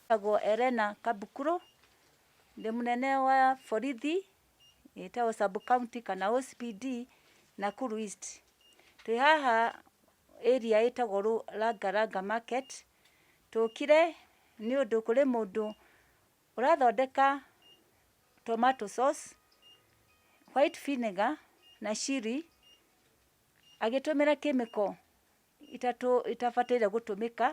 Njĩtagwo Elena Kabukuro, ndĩ mũnene wa borithi ĩtagwo sub county kana OCPD Nakuru East. Twĩ haha area ĩtagwo Ranga Ranga market, tũkire nĩ ũndũ kũrĩ mũndũ ũrathondeka tomato sauce, white vinegar na chilli agĩtũmĩra chemical. itatũ itabataire gũtũmĩka.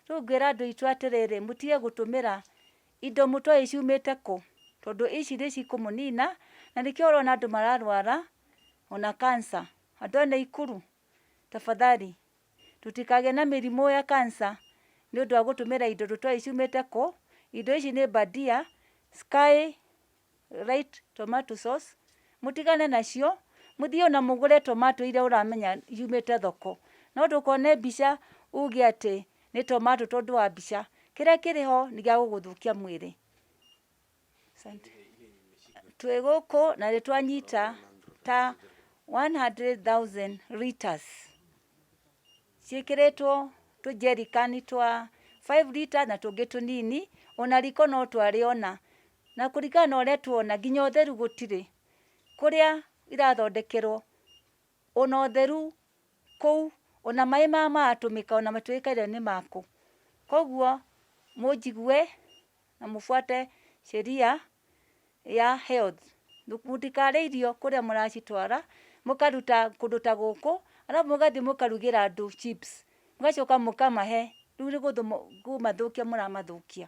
Rĩu ngwĩra andũ aitũ atĩrĩrĩ, mũtige gũtũmĩra indo mũtoĩ ciumĩte kũ, tondũ ici nĩ cikũmũnina, na nĩkĩo ũrona andũ mararwara ona cancer. Andũ a Naikuru tafadhali tũtikagĩe na mĩrimũ ya cancer nĩ ũndũ wa gũtũmĩra indo tũtoĩ ciumĩte kũ. Indo ici nĩ bandia, sky... right tomato sauce, mũtigane nacio, mũthiĩ ona mũgũre tomato iria ũramenya yumĩte thoko. No ndũkone mbica uge atĩ nĩ tomato tondũ wa mbica. Kĩrĩa kĩrĩ ho nĩ gĩa gũgũthũkia mwĩrĩ. Asante. Twĩ gũkũ na nĩ twanyita ta 100,000 litres. ciĩkĩrĩtwo tũjerikani twa five litres na tũngĩ tũnini, ona riko no twarĩona. Na kũringana na ũrĩa tũrona nginya ũtheru gũtirĩ, kũrĩa irathondekerwo ona ũtheru kũu, ona maĩ marĩa maratũmĩka ona matiũĩkaine nĩ ma kũ. Koguo mũnjigue na mũbuate sheria ya health mũtikarĩa irio kũrĩa mũracitwara mũkaruta kũndũ ta gũkũ arabu mũgathiĩ mũkarugĩra andũ chips mũgacoka mũkamahe rĩu nĩ kũmathũkia mũramathũkia.